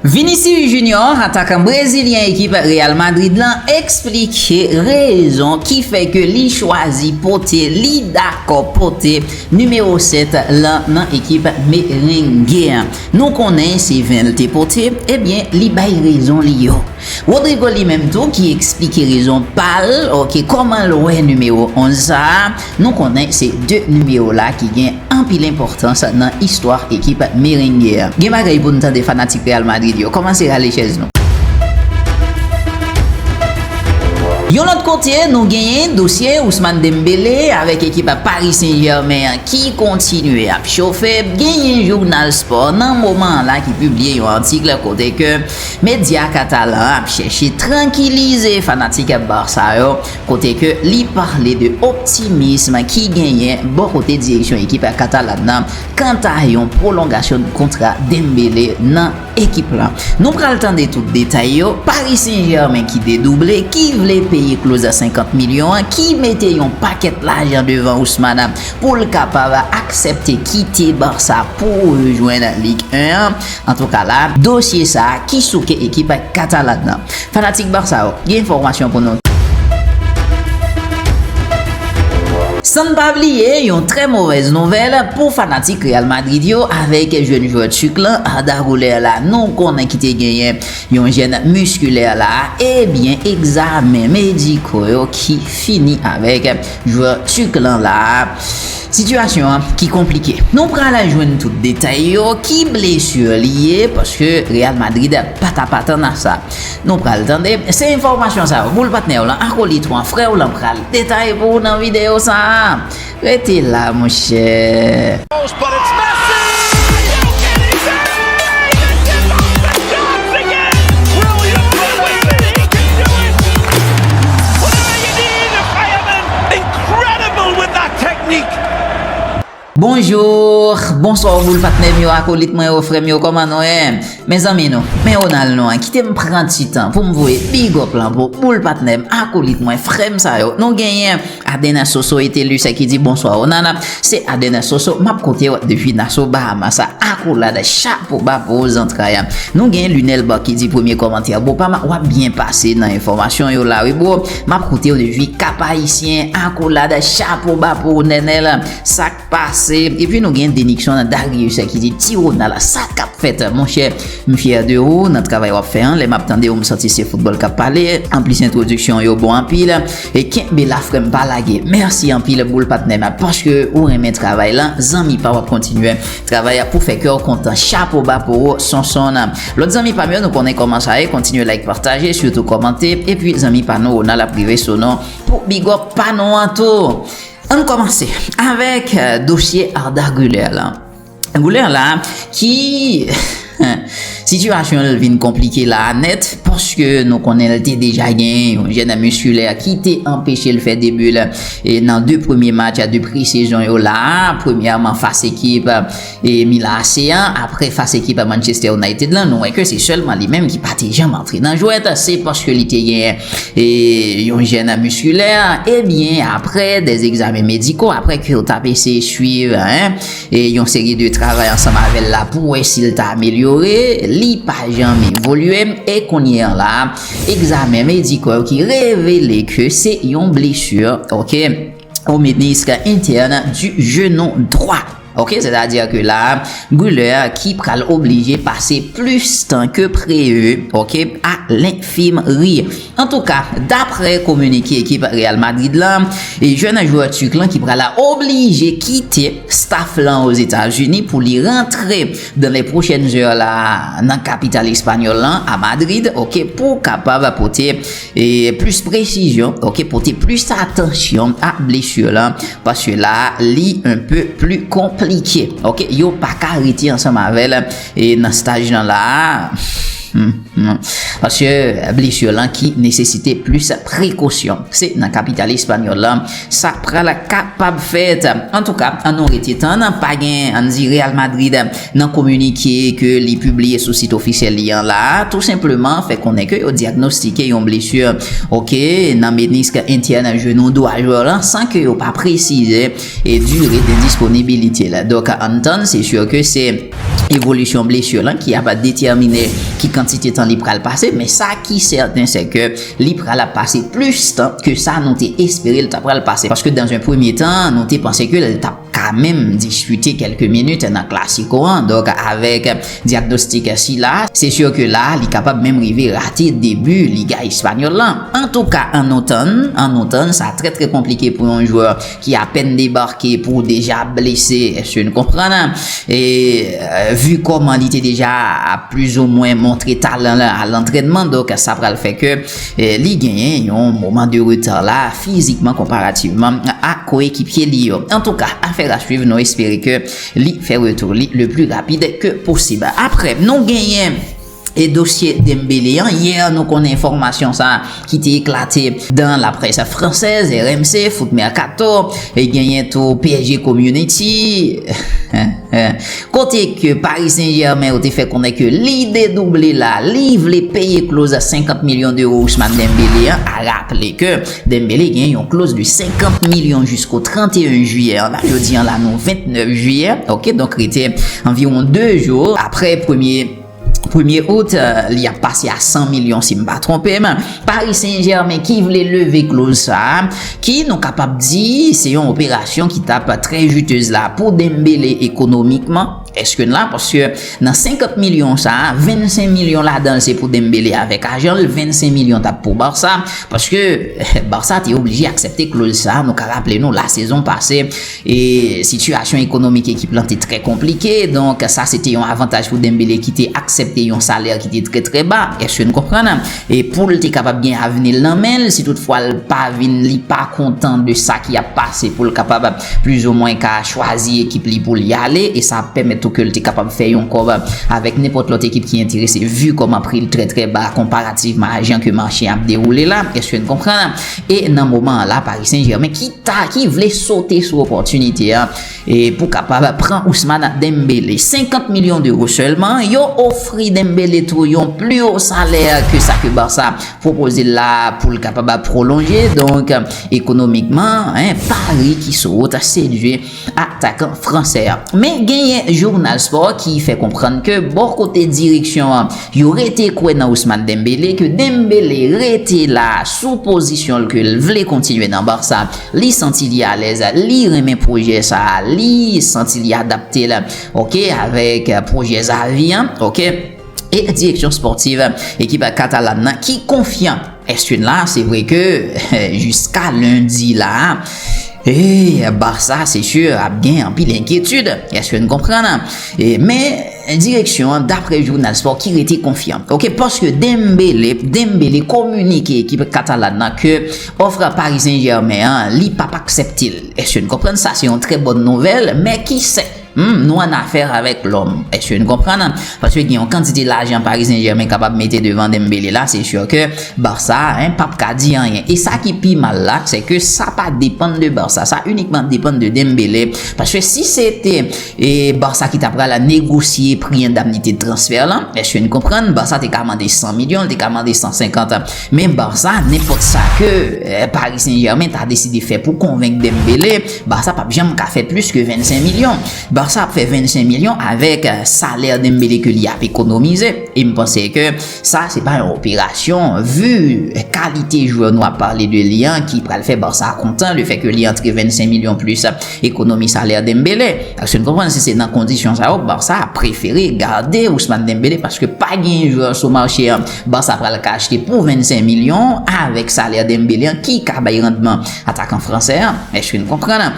Vinicius Junior, atakan brezilyen ekip Real Madrid lan eksplike rezon ki fè ke li chwazi pote, li dakò pote nimewo 7 lan nan ekip Merengue an. Nou konnen se 20 l te pote, ebyen li bay rezon li yo. Rodrigo li menm tou ki eksplike rezon pal ok komanl wè nimewo 11 sa nou konnen se 2 nimewo la ki gen anpil enpòtans nan istwa ekip merengue an gen bagay poun tande fanatik real madrid yo komanse rale chèz nou. Yon lòt kote nou genyen dosye Ousmane Dembele avèk ekip Paris Saint Germain an ki kontinye ap chofe genyen jounal spò nan moman an la ki pibliye yon atik kote ke Medya katalan an ap chèche trankilize fanatik Barça yo kote ke li pale de optimism ki genyen bò kote direksyon ekip katalan nan kanta yon pwolongasyon kontra Dembele nan ekip lan. Nou pral tande tout detay yo, Paris Saint-Germain ki dedouble, ki vle peye kloz a 50 milyon an, ki mete yon pakèt lajan devan Ousmane pou l kapab aksepte kite Barça pou rejwenn Ligue 1 an. Antouka la dosye sa ki souke ekip Catalan nan. Fanatik Barça yo, gen enfòmasyon pou nou. Sann pa bliye yon trè movèz nouvèl pou fanatik Real Madrid yo avèk jèn jwè Turk lan Arda Guler la nou konnen ki te genyen yon jèn miskilè la ebyen egzamen mediko yo ki fini avèk jwè Turk lan la. Sitiyasyon an ki konplike. Nou pral jwenn tout detay yo, ki blesur li ye, paske Real Madrid pa tap atann a sa. Nou pral tande. Se enfòmasyon sa yo, boul patnè w lan, akolit w an, frè w lan pral detaye pou ou nan videyo sa a. Rete la monchè. Incredible with that technique! Bonjour, bonsoir boul patnè m yo, akolit mwen yo, frè m yo kòman nou ye? Men zanmi nou, men Ronald nou an kite m pran ti tan pou m voye big up lan pou boul patnè m, akolit mwen, frè m sa yo. Nou genyen Adener Soso Etelus ki di Bonsoir Ronald, se Adener Soso m ap koute w depi Nassau Bahamas. Akolad, chapo ba pou ou zantray. Nou gen Lunel Baky di premye kòmantè bro pa m, w ap byen pase nan enfòmasyon yo la wi bro. Map koutew de vi kap ayisyen akolad chapo ba pou ou nenel sak pase epi nou gen deniksyon nan darius ki di ti ronal sa kap fèt monchè m fyè de ou nan travay wap fè an lè map tandew m santi se foutbòl kap pale anplis entwodiksyon w yo bon anpil e kenbe la frèm pa lage mèsi anpil boul patnèm paske ou renmen travay lan zanmi pa wap kontinye travay pou fè kèw kontan chapo ba pou ou sonson. Lot zanmi pam yo nou konnen koman sa ye kontinye like pataje sitou komante epi zanmi pa nou Ronald ap rive sou nou pou bigòp pa nou an tou Ann komanse avèk dosye Arda Guler la Guler la ki sitiyasyon l vin konplike la a nèt paske nou konnen l te deja gen yon jènè miskilè ki te anpeche l fè debi l nan 2 premye match de pre sezon yo la a premyèman fas ekip E Mila AC an, aprè fas ekip a Manchester United lan, nou wè ke se sèlman li menm ki pa te janm antre nan jwèt, se paske li te gen yon jèn miskilè, e byen aprè des examens médicaux, aprè ke yo tap eseye swiv yon seri de travay ansanm avèl la pou wè si l ta amelyore, li pa janm evolye, e kounye an la, examens médicaux yo ki revele ke se yon blessure ok. au ministre interne du genou droit. Ok, sètadi ke la, Guler ki pral oblije pase plis tan ke preve, ok, a lenfimri. Antouka, dapre kominike ekip Real Madrid la, jèn jwè Turk lan ki pral oblije kite staf lan Ozetazini pou li rantre dans les prochaines heures la nan kapital espanyòl lan, a Madrid, ok, pou kapab pote Plis presizyon, ok, pote plis atansyon ak blessure lan paske la li un peu pli konplike, ok, yo pa ka rete ansanm avèl nan staj lan la a, paske blessure lan ki nesesite plis prekosyon, se nan kapital espanyòl lan. Sa pral kapab fèt. Antouka, an nou rete tann, pa gen anndi Real Madrid nan kominike ke li pibliye sou sit ofisyèl li an la a, tou senpleman fè konnen ke yo dyagnostike yon blesu ok nan menisk entyèn jenou dwa jwè lan san ke yo pa presize dure de disponibilite l. Donk ann tann, se sur ke se evolisyon blesu lan ki ap detèmine ki kantite tan li pral pase, men sa ki sèten se ke Li pral ap pase plis tan ke sa nou te espere l ta pral pase paske dans un premye tan nou te panse ke l tap ka menm diskite kelke minit nan Klasiko an donk avèk dyagnostik sila se sur ke la li kapab menm rive rate debu Liga Español lan. Antouka an nou tann, an nou tann, sa trè trè konplike pou yon jwè ki apèn debake pou deja blese èske nou konprann e vu kòman li te deja ap plis ou mwen montre talan l a lantrènman donk sa pral fè ke li genyen yon moman de reta la fizikman konparativman a koyekipye li yo antouka afèr a swiv nou espere ke li fè retou li le pli rapid ke posib aprè nou genyen. E dosye Dembele an, yè nou konnen enfòmasyon sa ki te eklate dan la près fransèz, RMC, Foot Mercato, e genyen tou PSG Community, kote ke Paris Saint Germain yo te fè konnen ke li dedouble la, li vle peye kloz 50 milyon deuro Ousmane Dembele an, a raple ke Dembele genyen yon kloz de 50 milyon jisko 31 jiyè an, jodi an la nou 29 jiyè, ok, donk rete anviwon 2 jou aprè premye. Premye out, li ap pase a 100 milyon si m pa twonpe m, Paris Saint Germain ki vle leve kloz sa, ki nou kapab di se yon operasyon ki tap trè jutez la pou Dembele ekonomikman, eske n la, paske nan 50 milyon sa, 25 milyon ladan l se pou Dembele avèk ajan l, 25 milyon tap pou Barça, paske Barça te oblije aksepte kloz sa, nou ka raple nou la sezon pase, E sitiyasyon ekonomik ekip lan te trè konplike, donk sa se te yon avantaj pou Dembele ki te aksepte yon salè ki te trè trè ba, èske n konprann? E pou l te kapab gen avni l nan men l, si tout fwa l pa vin, li pa kontan de sa ki ap pase pou l kapab plizomwen ka chwazi ekip li pou li ale, e sa ap pèmèt tou ke l te kapab fè yon kòb avèk nenpòt lòt ekip ki enterese, vu kòman pri l trè trè ba konparativman a jan ke mache a ap dewoule la, èske n konprann? E nan moman an la Paris Saint Germain ki ta ki vle sote sou opòtinite an e pou kapab pran Ousmane Dembélé. 50 milyon d'euro sèlman, yo ofri Dembélé tou yon pli wo salè ke sa ke Barça pwopoze l la pou l kapab pwolonje. Donk ekonomikman, Paris ki sou wout sedwi. atakan fransè a. Men genyen jounal spò ki fè konprann ke bò kote direksyon an, yo rete kwè nan Ousmane Dembélé, ke Dembélé rete la sou pozisyon l ke l vle kontinye nan Barça, li santi li alèz, li renmen pwojè sa a, li santi li adapte l ok avèk pwojè Xavi an ok. E direksyon spòtiv ekip Katalan nan ki konfyan Eswin la, se vre ke jiska lendi la, ee, Barça se sur ap gen anpil enkyetid, èske n konprann? Men, direksyon an dapre jounal spò ki rete konfyan. Ok, paske Dembele, Dembele kominike ekip Katalan nan ke òf Paris Saint-Germain an, li p ap aksepte l. Èske n konprann? Sa se yon trè bòn nouvèl, men ki sè? Humm nou an affaire avec l'homme eske nou konprann? Paske gen yon kantite lajan Paris Saint Germain kapab mete devan Dembele la se sûr ke Barça hein pap ka di anyen e sa ki pi mal la se ke sa pa depann de Barça sa unikman depann de Dembele paske si se te Barça ki ta pral negosye pri endamnite de transfert lan eske nou konprann Barça te ka mande 100 milyon li te ka mande 150 Men Barça nenpòt sa ke Paris Saint Germain ta deside fè pou konvenk Dembele, Barça pap janm ka fè plis ke 25 milyon. Barça ap fè 25 milyon avèk salè Dembele ke li ap ekonomize. E m panse ke sa se pa yon operasyon vu kalite jwè nou ap pale de li an ki pral fè Barça kontan le fè ke li antre 25 milyon plis ekonomi salè Dembele. Èske n konprann si se nan kondisyon sa yo Barça ap prefere gade Ousmane Dembele paske pa gen jwè sou mache an Barça pral ka achte pou 25 milyon avèk salè Dembélé an ki ka bay randman atakan fransè an. Èske n konprann?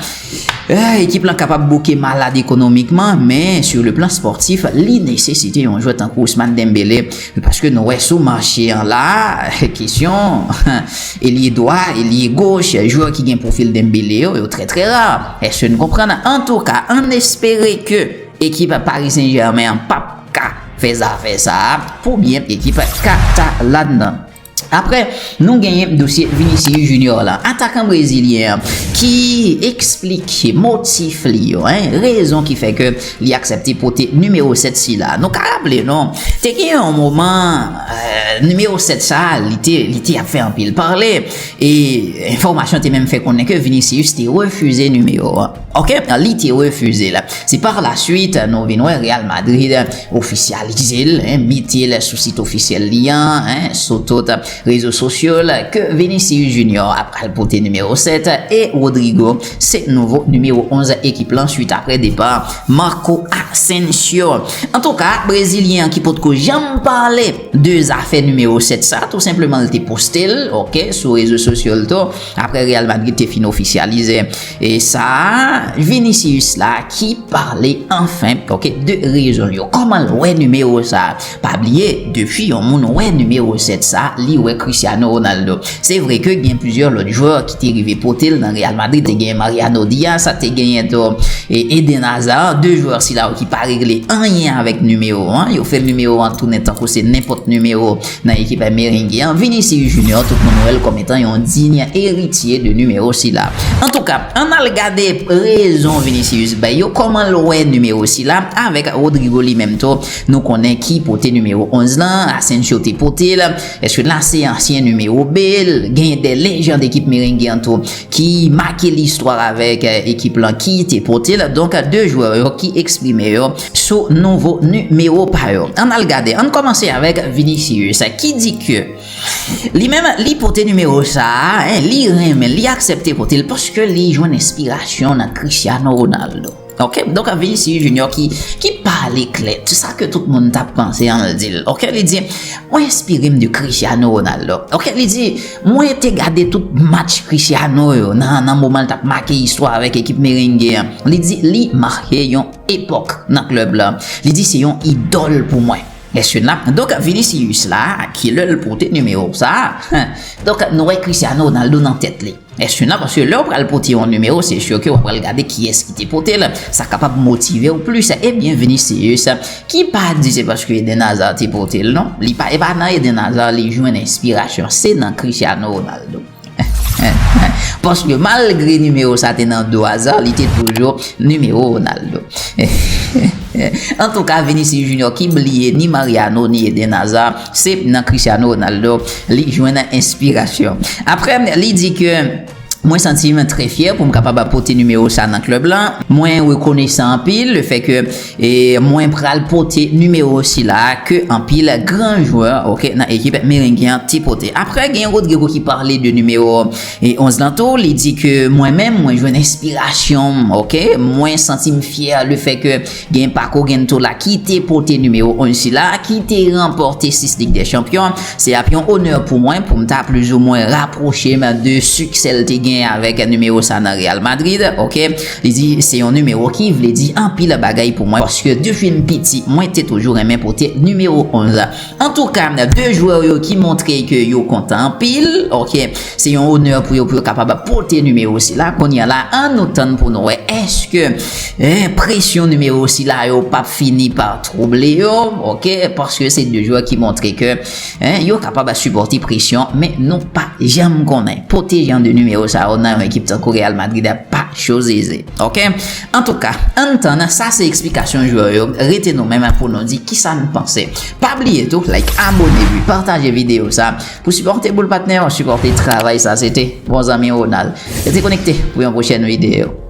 Ahh ekip lan kapab bouke malad ekonomikman men sur le plan sportif li nesesite yon jwè tankou Ousmane Dembélé paske nou wè sou mache an la kesyon elye dwa, elye goch, jwè ki gen pwofil Dembélé yo, yo trè trè rar. Èske n konprann? Antouka ann espere ke ekip Paris Saint Germain an pap. ka fè zafè sa a pou byen ekip katalan nan. Aprè nou genyen dosye Vinicius Junior la, atakan brezilyen an ki eksplike motif li yo, rezon ki fè ke li aksepte pote nimewo 7 sila. Nou ka raple nou, te gen yon moman nimewo 7 sa a li te li te ap fè anpil pale e enfòmasyon te menm fè konnen ke Vinicius te refize nimewo an. Ok, li te refize l. Se par la suite nou vin wè Real Madrid ofisyalize l, mete l sou sit ofisyèl li an, sou tout rezo sosyo l, ke Vinicius Junior ap pral pote nimewo 7 e Rodrygo se nouvo nimewo 11 ekip lan suit aprè depa Marco Asensio. Antouka, brezilyen an ki potko janm pale de zafè nimewo 7 sa, tou senpleman l te poste l, ok, sou rezo sosyo l tou, aprè Real Madrid te fin ofisyalize E sa Vinicius la ki pale anfen ok de rezon l yo kòman l wè nimewo sa pa bliye depi yon moun wè nimewo 7 sa li wè Cristiano Ronaldo se vre ke gen plizyè lòt jwè ki te rive pote l nan Real Madrid te genyen Mariano Diaz te genyen tou Eden Hazard 2 jwè sila yo ki pa regle anyen avèk nimewo 1 yo fè nimewo 1 tounen tankou se nenpòt nimewo Nan ekip ay merengue an, Vinicius Junior tout moun wèl kòm etan yon digne eritye de numewo sila. Antouka, ann al gade rezon Vinicius bay yo, kòman l wè numewo sila, avèk Rodrygo li menm tou, nou konnen ki pote numewo 11 lan, Asensio te pote l, èske la se ansyen numewo be l, genyen de lejann ekip merengue an tou ki make listwa avèk ekip lan ki te pote l, donk 2 jwè yo ki eksprime yo. sou nouvo nimewo pa yo. Ann al gade, ann kòmanse avèk Vinicius ki di ke li menm li pote nimewo sa a, li renmen, li aksepte pote l paske li jwenn enspirasyon nan Cristiano Ronaldo. Ok, donk Vinicius Junior ki pale klè, se sa ke tout moun ta panse an l di l. Ok, li di, mwen enspire m de Cristiano Ronaldo. Ok, li di, mwen te gade tout match Cristiano yo nan moman l t ap make istwa avèk ekip Merengue an. Li di, li make yon. epòk nan klèb la, li di se yon idòl pou mwen. Mesye nap donk Vinicius la ki lè l pote nimewo sa donk nou wè Cristiano Ronaldo nan tèt li mesye nan paske lè ou pral pote yon nimewo se sur ke wap pral gade kiyès ki te pote l sa kapab motive w plis ebyen Vinicius ki pa di se paske Eden Hazard te pote l non li pa e pa nan Eden Hazard li jwenn enspirasyon se nan Cristiano Ronaldo. Paske malgre nimewo sa te nan do Hazard, li te toujou nimewo Ronaldo. Antouka, Vinicius Junior ki bliye ni Mariano ni Eden Hazard, se nan Cristiano Ronaldo li jwenn enspirasyon. Apre li di ke Mwen santi m trè fyè pou m kapab pote nimewo sa nan klèb la. Mwen rekonesan anpil le fè ke E mwen pral pote nimewo sila a ke anpil gran jwè ok nan ekip Merengue an te pote. Aprè gen Rodrigo ki pale de nimewo 11 lan tou, li di ke mwen menm mwen jwenn enspirasyon m ok, mwen santi m fyè le fè ke gen Paco Gento la ki te pote nimewo 11 sila a ki te ranpòte 6 Lig dè Chanpyon. Se ap yon onè pou mwen pou m ta plizoumwen rapwoche m de siksè l te gen avèk nimewo sa nan Real Madrid ok. Li di, Se yon nimewo ki vle di anpil bagay pou mwen paske depi m piti mwen te toujou renmen pote nimewo 11. Antouka, 2 jwè yo ki montre ke yo kontan anpil, ok. Se yon onè pou yo pou yo kapab pote nimewo sila. Kounye a la, an nou tann pou nou wè èske presyon nimewo sila yo pap fini pa twouble yo, ok, paske se 2 jwè ki montre ke Hein yo kapab a supòte presyon men nou pa janm konnen pote jan de nimewo sa yo nan yon ekip tankou Real Madrid a pa choz eze ok antouka ann tann sa se eksplikasyon jwè yo rete nou menm pou nou di kisa n panse pa bliye tou like abone epi pataje videyo sa pou sipòte boul patnè yo sipòte travay sa se te bon zanmi Ronald rete konekte pou yon pwochèn videyo.